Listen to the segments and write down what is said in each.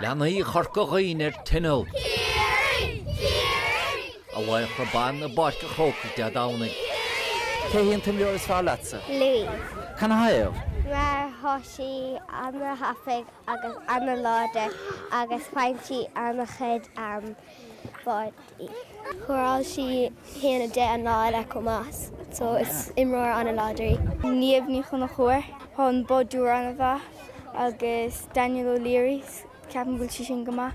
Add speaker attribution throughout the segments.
Speaker 1: Leanaí Chorca Dhuibhne ar tinneall. A Laochra Ban i bPáirc an Chrócaigh Dé Domhnaigh. Cé
Speaker 2: hí an t-imreoir is fearr leatsa? Louise.
Speaker 3: Canathaobh?
Speaker 2: mar
Speaker 3: tá sí an-thapaidh agus an-láidir agus faigheann sí an-chuid. báidí. Scóráil sí 1 10 an lá eile chomh maith so is imreoir an-láidir í. Niamh Ní Chonchúir, hon, báideoir an-mhaith agus Danielle O'Leary, ceapaim go bhfuil sí sin go maith,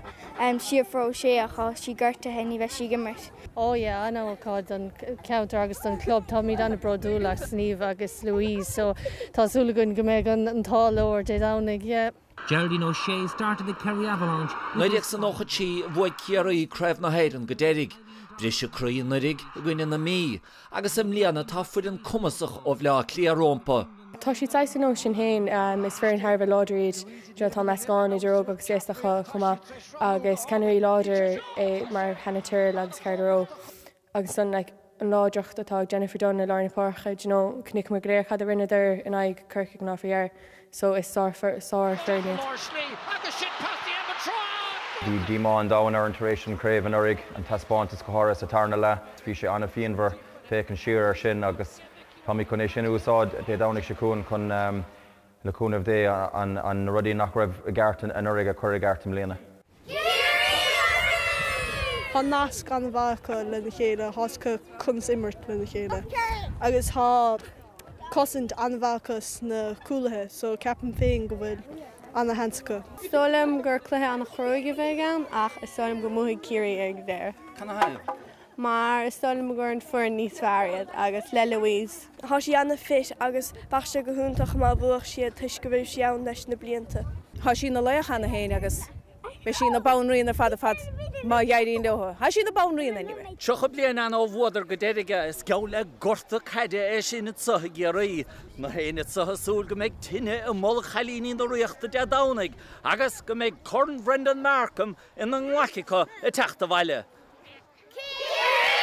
Speaker 3: Síofra Ó Sé ach tá sí gortaithe ní bheidh sí ag imirt. Oh yeah,
Speaker 4: an-ócáid don cheantar agus don chlub. Táimid an-bhródúil as Niamh agus Louise so tá súil againn go mbeidh an t-ádh leo ar Dé Domhnaigh, yeah. Geraldine
Speaker 5: O'Shea started the Kerry Avalanche with this Nollaig
Speaker 1: san 93 bhuaigh Ciarraí Craobh na hÉireann go deiridh. Briseadh croí anuraidh i gcoinne na Mí agus i mbliana tá foireann cumasach ó Bhaile Átha Cliath rompu. Tá siad saghas
Speaker 4: ar nós sinn féin, is foireann thar a bheith láidir iad, you know tá meascán idir óg agus aosta acu chomh maith agus ceannairí láidir mar Hannah Tyrrell agus Carla Rowe. agus ansan an láidreacht atá ag Jennifer Dunne i lár na páirce, you know chonaiceamar go léir cad a rinneadar in aghaidh Corcaigh an lá faoi dheireadh so is sár-fhoireann iad.
Speaker 6: Bhí díomá an domhain orainn tar éis an chraobh anuraidh, an taispeántas go háirithe sa tarna leath. Bhí sé an-phianmhar féachaint siar air sin agus táimid chun é sin a úsáid Dé Domhnaigh seo chugainn chun Le cúnamh Dé, na rudaí nach raibh i gceart anuraidh a chur i gceart i mbliana. Ciarraí
Speaker 7: Thiar! Tá nasc an-mhaith acu lena chéile, tá a fhios acu conas imirt lena chéile agus tá cosaint an-mhaith acu sna cúlaithe so ceapaim féin go bhfuil ana-sheans acu. Is dóigh liom gur cluiche
Speaker 4: ana-chruaidh a bheidh ann ach is dóigh liom go mbuafaidh Ciarraí ar deireadh.
Speaker 2: mar is
Speaker 4: dóigh liom gur an foireann níos fearr iad agus le Louise. tá sí
Speaker 7: an-'fit' agus bheadh sé go hiontach má bhuafadh siad toisc go raibh sí ann leis na blianta. tá sí ina laoch
Speaker 8: cheana féin agus beidh sí ina banríon ar fad ar fad má éiríonn leo. tá sí ina banríon anyway! Tríocha bliain ann
Speaker 1: ó bhuadar go deiridh é. Is geall le gorta caide é sin anso i gCiarraí. Gach éinne anso ag súil go mbeidh tine i mbolg chailíní na Ríochta Dé Domhnaigh agus go mbeidh Corn Bhrendan Martin ina nglaic acu ag teacht abhaile. Cé a bhí ann?